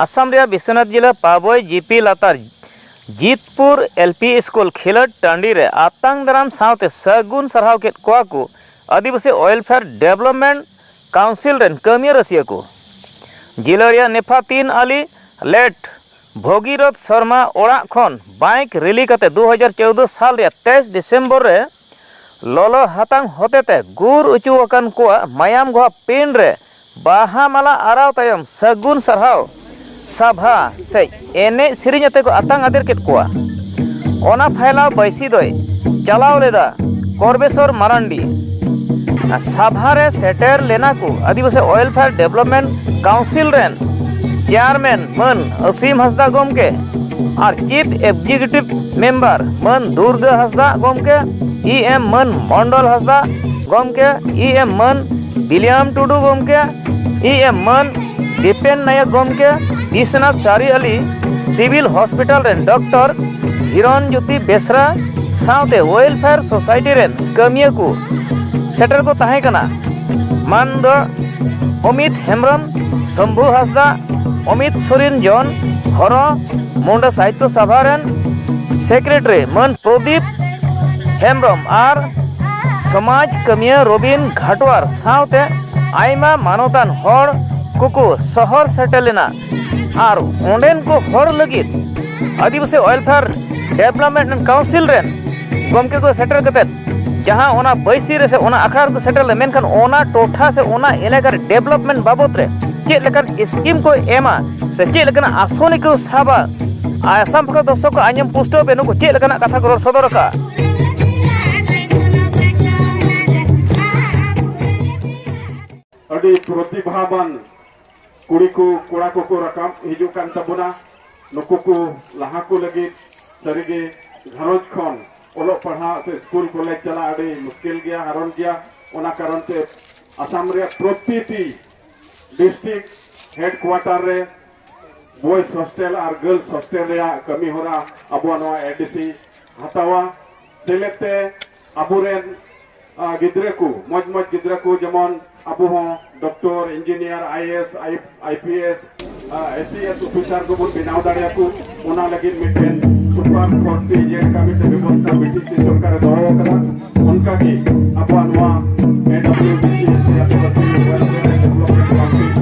ᱟᱥᱟᱢ ᱨᱮᱭᱟᱜ ᱵᱤᱥᱣᱚᱱᱟᱛᱷ ᱡᱤᱞᱟ ᱯᱟᱵᱚᱭ ᱡᱤᱯᱤ ᱞᱟᱛᱟᱨ ᱡᱤᱛᱯᱩᱨ ᱮᱞ ᱯᱤ ᱥᱠᱩᱞ ᱠᱷᱮᱞᱳᱰ ᱴᱟᱺᱰᱤ ᱨᱮ ᱟᱛᱟᱝ ᱫᱟᱨᱟᱢ ᱥᱟᱶᱛᱮ ᱥᱟᱹᱜᱩᱱ ᱥᱟᱨᱦᱟᱣ ᱠᱮᱫ ᱠᱚᱣᱟ ᱠᱚ ᱟᱹᱫᱤᱵᱟᱹᱥᱤ ᱳᱭᱮᱞᱯᱷᱮᱭᱟᱨ ᱰᱮᱵᱷᱞᱚᱯᱢᱮᱱᱴ ᱠᱟᱣᱩᱱᱥᱤᱞ ᱨᱮᱱ ᱠᱟᱹᱢᱤᱭᱟᱹ ᱨᱟᱹᱥᱤᱭᱟᱹ ᱠᱚ ᱡᱤᱞᱟᱹ ᱨᱮᱭᱟᱜ ᱱᱮᱯᱷᱟᱛᱤᱱ ᱟᱞᱤ ᱞᱮᱴ ᱵᱷᱚᱜᱤᱨᱚᱛᱷ ᱥᱚᱨᱢᱟ ᱚᱲᱟᱜ ᱠᱷᱚᱱ ᱵᱟᱭᱤᱠ ᱨᱮᱞᱤ ᱠᱟᱛᱮᱫ ᱫᱩ ᱦᱟᱡᱟᱨ ᱪᱳᱫᱽᱫᱳ ᱥᱟᱞ ᱨᱮᱭᱟᱜ ᱛᱮᱭᱤᱥ ᱰᱤᱥᱮᱢᱵᱚᱨ ᱨᱮ ᱞᱚᱞᱚ ᱦᱟᱛᱟᱝ ᱦᱚᱛᱮᱛᱮ ᱜᱩᱨ ᱚᱪᱚ ᱟᱠᱟᱱ ᱠᱚᱣᱟᱜ ᱢᱟᱭᱟᱢ ᱜᱷᱚᱜ ᱯᱤᱸᱰ ᱨᱮ ᱵᱟᱦᱟ ᱢᱟᱞᱟ ᱟᱨᱟᱣ ᱛᱟᱭᱚᱢ ᱥᱟᱹᱜᱩᱱ ᱥᱟᱨᱦᱟᱣ ᱥᱟᱵᱷᱟ ᱥᱮ ᱮᱱᱮᱡ ᱥᱮᱨᱮᱧ ᱟᱛᱮ ᱠᱚ ᱟᱛᱟᱝ ᱟᱫᱮᱨ ᱠᱮᱫ ᱠᱚᱣᱟ᱾ ᱚᱱᱟ ᱯᱷᱟᱭᱞᱟᱣ ᱵᱟᱹᱭᱥᱤ ᱫᱚᱭ ᱪᱟᱞᱟᱣ ᱞᱮᱫᱟ ᱠᱚᱨᱵᱮᱥᱚᱨ ᱢᱟᱨᱟᱱᱰᱤ᱾ ᱥᱟᱵᱷᱟ ᱨᱮ ᱥᱮᱴᱮᱨ ᱞᱮᱱᱟ ᱠᱚ ᱟᱹᱫᱤᱵᱟᱹᱥᱤ ᱳᱭᱮᱞᱯᱷᱮᱭᱟᱨ ᱰᱮᱵᱷᱞᱚᱯᱢᱮᱱᱴ ᱠᱟᱣᱩᱱᱥᱤᱞ ᱨᱮᱱ ᱪᱮᱭᱟᱨᱢᱮᱱ᱾ ᱢᱟᱹᱱ ᱚᱥᱤᱢ ᱦᱟᱸᱥᱫᱟ ᱜᱚᱢᱠᱮ ᱟᱨ ᱪᱤᱯ ᱮᱠᱡᱤᱠᱤᱭᱩᱴᱤᱵᱷ ᱢᱮᱢᱵᱟᱨ ᱢᱟᱹᱱ ᱫᱩᱨᱜᱟᱹ ᱦᱟᱸᱥᱫᱟ ᱜᱚᱢᱠᱮ ᱤ ᱮᱢ ᱢᱟᱹᱱ ᱢᱚᱱᱰᱚᱞ ᱦᱟᱸᱥᱫᱟ ᱜᱚᱢᱠᱮ ᱤ ᱮᱢ ᱢᱟᱹᱱ ᱵᱤᱞᱤᱭᱟᱢ ᱴᱩᱰᱩ ᱜᱚᱢᱠᱮ ᱤ ᱮᱢ ᱢᱟᱹᱱ ᱫᱤᱯᱮᱱ ᱱᱟᱭᱚᱠ ᱜᱚᱢᱠᱮ Biswanath Chariali civil hospital ᱨᱮᱱ ᱰᱚᱠᱴᱚᱨ ᱦᱤᱨᱚᱱ ᱡᱳᱛᱤ ᱵᱮᱥᱨᱟ ᱥᱟᱶᱛᱮ ᱳᱭᱮᱞᱯᱷᱮᱭᱟᱨ ᱥᱳᱥᱟᱭᱴᱤ ᱨᱮᱱ ᱠᱟᱹᱢᱤᱭᱟᱹ ᱠᱚ ᱥᱮᱴᱮᱨ ᱠᱚ ᱛᱟᱦᱮᱸ ᱠᱟᱱᱟ ᱢᱟᱹᱱ ᱫᱚ ᱚᱢᱤᱛ ᱦᱮᱢᱵᱨᱚᱢ ᱥᱚᱢᱵᱷᱩ ᱦᱟᱸᱥᱫᱟ ᱚᱢᱤᱛ ᱥᱚᱨᱮᱱ ᱡᱚᱱ ᱦᱚᱨᱚ ᱢᱩᱱᱰᱟ ᱥᱟᱦᱤᱛᱭᱚ ᱥᱚᱵᱷᱟ ᱨᱮᱱ ᱥᱮᱠᱨᱮᱴᱟᱨᱤ ᱢᱟᱹᱱ ᱯᱨᱚᱫᱤᱯ ᱦᱮᱢᱵᱨᱚᱢ ᱟᱨ ᱥᱚᱢᱟᱡᱽ ᱠᱟᱹᱢᱤᱭᱟᱹ ᱨᱚᱵᱤᱱ ᱜᱷᱟᱴᱣᱟᱨ ᱥᱟᱶᱛᱮ ᱟᱭᱢᱟ ᱢᱟᱱᱚᱛᱟᱱ ᱦᱚᱲ ᱠᱚᱠᱚ ᱥᱚᱦᱚᱨ ᱥᱮᱴᱮᱨ ᱞᱮᱱᱟ ᱟᱨ ᱚᱸᱰᱮᱱ ᱠᱚ ᱦᱚᱲ ᱞᱟᱹᱜᱤᱫ ᱟᱹᱫᱤᱵᱟᱹᱥᱤ ᱚᱭᱮᱞᱯᱷᱮᱭᱟᱨ ᱰᱮᱵᱷᱞᱚᱯᱢᱮᱱᱴ ᱠᱟᱣᱩᱱᱥᱤᱞ ᱨᱮᱱ ᱜᱚᱢᱠᱮ ᱠᱚ ᱥᱮᱴᱮᱨ ᱠᱟᱛᱮᱫ ᱡᱟᱦᱟᱸ ᱚᱱᱟ ᱵᱟᱹᱭᱥᱤ ᱨᱮ ᱥᱮ ᱚᱱᱟ ᱟᱠᱷᱲᱟ ᱨᱮᱠᱚ ᱥᱮᱴᱮᱨ ᱞᱮ ᱢᱮᱱᱠᱷᱟᱱ ᱚᱱᱟ ᱴᱚᱴᱷᱟ ᱥᱮ ᱚᱱᱟ ᱮᱞᱟᱠᱟ ᱨᱮ ᱰᱮᱵᱷᱞᱚᱯᱢᱮᱱᱴ ᱵᱟᱵᱚᱫ ᱨᱮ ᱪᱮᱫ ᱞᱮᱠᱟᱱ ᱥᱠᱤᱢ ᱠᱚ ᱮᱢᱟ ᱥᱮ ᱪᱮᱫ ᱞᱮᱠᱟᱱᱟᱜ ᱟᱥᱚᱱᱤ ᱠᱚ ᱥᱟᱵᱟ ᱟᱥᱟᱢ ᱯᱟᱠᱟ ᱫᱚᱨᱥᱚᱠ ᱠᱚ ᱟᱸᱡᱚᱢ ᱯᱩᱥᱴᱟᱹᱣ ᱯᱮ ᱱᱩᱠᱩ ᱪᱮᱫ ᱞᱮᱠᱟᱱᱟᱜ ᱠᱟᱛᱷᱟ ᱠᱚ ᱨᱚᱲ ᱥᱚᱫᱚᱨ ᱟᱠᱟᱜᱼᱟ ᱟᱹᱰᱤ ᱯᱨᱚᱛᱤᱵᱷᱟᱵᱟᱱ ᱠᱩᱲᱤ ᱠᱚ ᱠᱚᱲᱟ ᱠᱚᱠᱚ ᱨᱟᱠᱟᱵ ᱦᱤᱡᱩᱜ ᱠᱟᱱ ᱛᱟᱵᱚᱱᱟ ᱱᱩᱠᱩ ᱠᱚ ᱞᱟᱦᱟ ᱠᱚ ᱞᱟᱹᱜᱤᱫ ᱥᱟᱹᱨᱤᱜᱮ ᱜᱷᱟᱨᱚᱸᱡᱽ ᱠᱷᱚᱱ ᱚᱞᱚᱜ ᱯᱟᱲᱦᱟᱜ ᱥᱮ ᱥᱠᱩᱞ ᱠᱚᱞᱮᱡᱽ ᱪᱟᱞᱟᱜ ᱟᱹᱰᱤ ᱢᱩᱥᱠᱤᱞ ᱜᱮᱭᱟ ᱦᱟᱨᱚᱱ ᱜᱮᱭᱟ ᱚᱱᱟ ᱠᱟᱨᱚᱱ ᱛᱮ ᱟᱥᱟᱢ ᱨᱮᱭᱟᱜ ᱯᱨᱚᱛᱤᱴᱤ ᱰᱤᱥᱴᱨᱤᱠᱴ ᱦᱮᱰᱠᱩᱣᱟᱴᱟᱨ ᱨᱮ ᱵᱚᱭᱥ ᱦᱚᱥᱴᱮᱞ ᱟᱨ ᱜᱟᱨᱞᱥ ᱦᱚᱥᱴᱮᱞ ᱨᱮᱭᱟᱜ ᱠᱟᱹᱢᱤ ᱦᱚᱨᱟ ᱟᱵᱚᱣᱟᱜ ᱱᱚᱣᱟ ᱮᱰᱤᱥᱤ ᱦᱟᱛᱟᱣᱟ ᱥᱮᱞᱮᱫ ᱛᱮ ᱟᱵᱚᱨᱮᱱ ᱜᱤᱫᱽᱨᱟᱹ ᱠᱚ ᱢᱚᱡᱽ ᱢᱚᱡᱽ ᱜᱤᱫᱽᱨᱟᱹ ᱠᱚ ᱡᱮᱢᱚᱱ ᱟᱵᱚ ᱦᱚᱸ doctor engineer IAS IPS SCS officer ᱠᱚᱵᱚᱱ ᱵᱮᱱᱟᱣ ᱫᱟᱲᱮᱭᱟᱠᱚ ᱚᱱᱟ ᱞᱟᱹᱜᱤᱫ ᱢᱤᱫᱴᱮᱱ ᱥᱩᱯᱟᱨ ᱠᱳᱨᱴ ᱛᱮ ᱤᱭᱟᱹ ᱞᱮᱠᱟ ᱢᱤᱫᱴᱮᱱ ᱵᱮᱵᱚᱥᱛᱷᱟ ᱵᱤᱴᱤᱥᱤ ᱥᱚᱨᱠᱟᱨᱮ ᱫᱚᱦᱚ ᱟᱠᱟᱫᱟ ᱚᱱᱠᱟᱜᱮ ᱟᱵᱚᱣᱟᱜ ᱱᱚᱣᱟ ᱮᱰᱟᱵᱞᱤᱭᱩ ᱵᱤᱥᱤ ᱥᱮ ᱟᱹᱫᱤᱵᱟᱹᱥᱤ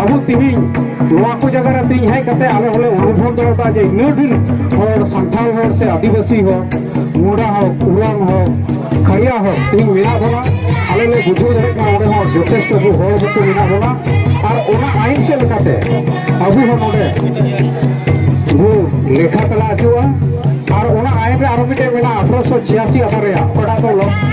ᱟᱵᱚ ᱛᱮᱦᱮᱧ ᱱᱚᱣᱟ ᱠᱚ ᱡᱟᱭᱜᱟ ᱨᱮ ᱛᱮᱦᱮᱧ ᱦᱮᱡ ᱠᱟᱛᱮ ᱟᱞᱮ ᱦᱚᱸᱞᱮ ᱚᱱᱩᱵᱷᱚᱵ ᱫᱟᱲᱮᱭᱟᱫᱟ ᱡᱮ ᱤᱱᱟᱹ ᱰᱷᱮᱨ ᱦᱚᱲ ᱥᱟᱱᱛᱟᱲ ᱦᱚᱲ ᱥᱮ ᱟᱹᱫᱤᱵᱟᱹᱥᱤ ᱦᱚᱲ ᱢᱩᱰᱟ ᱦᱚᱲ ᱩᱨᱟᱝ ᱦᱚᱲ ᱠᱷᱟᱲᱤᱭᱟ ᱦᱚᱲ ᱛᱮᱦᱮᱧ ᱢᱮᱱᱟᱜ ᱵᱚᱱᱟ ᱟᱞᱮ ᱞᱮ ᱵᱩᱡᱷᱟᱹᱣ ᱫᱟᱲᱮᱭᱟᱜ ᱠᱟᱱᱟ ᱚᱸᱰᱮ ᱦᱚᱸ ᱡᱚᱛᱷᱮᱥᱴᱚ ᱟᱵᱚ ᱦᱚᱲ ᱵᱟᱠᱚ ᱢᱮᱱᱟᱜ ᱵᱚᱱᱟ ᱟᱨ ᱚᱱᱟ ᱟᱭᱤᱱ ᱥᱮᱫ ᱞᱮᱠᱟᱛᱮ ᱟᱵᱚ ᱦᱚᱸ ᱱᱚᱰᱮ ᱵᱚ ᱞᱮᱠᱷᱟ ᱛᱟᱞᱟ ᱦᱚᱪᱚᱜᱼᱟ ᱟᱨ ᱚᱱᱟ ᱟᱭᱤᱱ ᱨᱮ ᱟᱨᱚ ᱢᱤᱫᱴᱮᱱ ᱢᱮᱱᱟᱜᱼᱟ ᱟᱴᱷᱨᱚᱥᱚ ᱪᱷᱤᱭᱟᱥᱤ ᱟᱴᱷᱟᱨᱚ ᱨᱮᱭᱟᱜ ᱚᱠᱟᱴᱟᱜ ᱫᱚ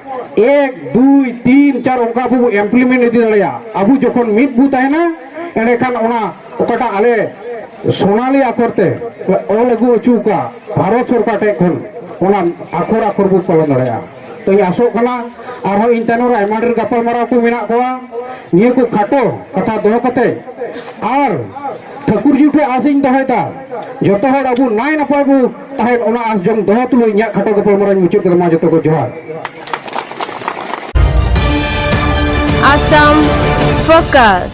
ᱮᱠ ᱫᱩᱭ ᱛᱤᱱ ᱪᱟᱨ ᱚᱱᱠᱟ ᱟᱵᱚ ᱮᱢᱯᱞᱤᱢᱮᱱᱴ ᱤᱫᱤ ᱫᱟᱲᱮᱭᱟᱜᱼᱟ ᱟᱵᱚ ᱡᱚᱠᱷᱚᱱ ᱢᱤᱫ ᱵᱚ ᱛᱟᱦᱮᱱᱟ ᱮᱸᱰᱮᱠᱷᱟᱱ ᱚᱱᱟ ᱚᱠᱟᱴᱟᱜ ᱟᱞᱮ ᱥᱳᱱᱟᱞᱤ ᱟᱠᱷᱚᱨ ᱛᱮ ᱚᱞ ᱟᱹᱜᱩ ᱦᱚᱪᱚ ᱟᱠᱟᱫ ᱵᱷᱟᱨᱚᱛ ᱥᱚᱨᱠᱟᱨ ᱴᱷᱮᱱ ᱠᱷᱚᱱ ᱚᱱᱟ ᱟᱠᱷᱚᱨ ᱟᱠᱷᱚᱨ ᱵᱚ ᱯᱟᱞᱚᱱ ᱫᱟᱲᱮᱭᱟᱜᱼᱟ ᱛᱚᱧ ᱟᱥᱚᱜ ᱠᱟᱱᱟ ᱟᱨᱦᱚᱸ ᱤᱧ ᱛᱟᱭᱱᱚᱢ ᱨᱮ ᱟᱭᱢᱟ ᱰᱷᱮᱨ ᱜᱟᱯᱟᱞᱢᱟᱨᱟᱣ ᱠᱚ ᱢᱮᱱᱟᱜ ᱠᱚᱣᱟ ᱱᱤᱭᱟᱹ ᱠᱚ ᱠᱷᱟᱴᱚ ᱠᱟᱛᱷᱟ ᱫᱚᱦᱚ ᱠᱟᱛᱮ ᱟᱨ ᱴᱷᱟᱹᱠᱩᱨᱡᱤ ᱴᱷᱮᱱ ᱟᱥᱤᱧ ᱫᱚᱦᱚᱭᱮᱫᱟ ᱡᱚᱛᱚ ᱦᱚᱲ ᱟᱵᱚ ᱱᱟᱭ ᱱᱟᱯᱟᱭ ᱵᱚ ᱛᱟᱦᱮᱸᱫ ᱚᱱᱟ ᱟᱥ ᱡᱚᱢ ᱫᱚᱦᱚ ᱛᱩᱞᱩᱡ ᱤᱧᱟᱹᱜ ᱠᱷᱟᱴᱚ ᱜᱟᱯᱟᱞᱢᱟᱨᱟᱣ ᱢᱩᱪᱟᱹᱫ ᱠᱮᱫᱟ ᱢᱟ ᱡᱚᱛᱚ ᱠᱚ ᱡᱚᱦᱟᱨ Assam Focus.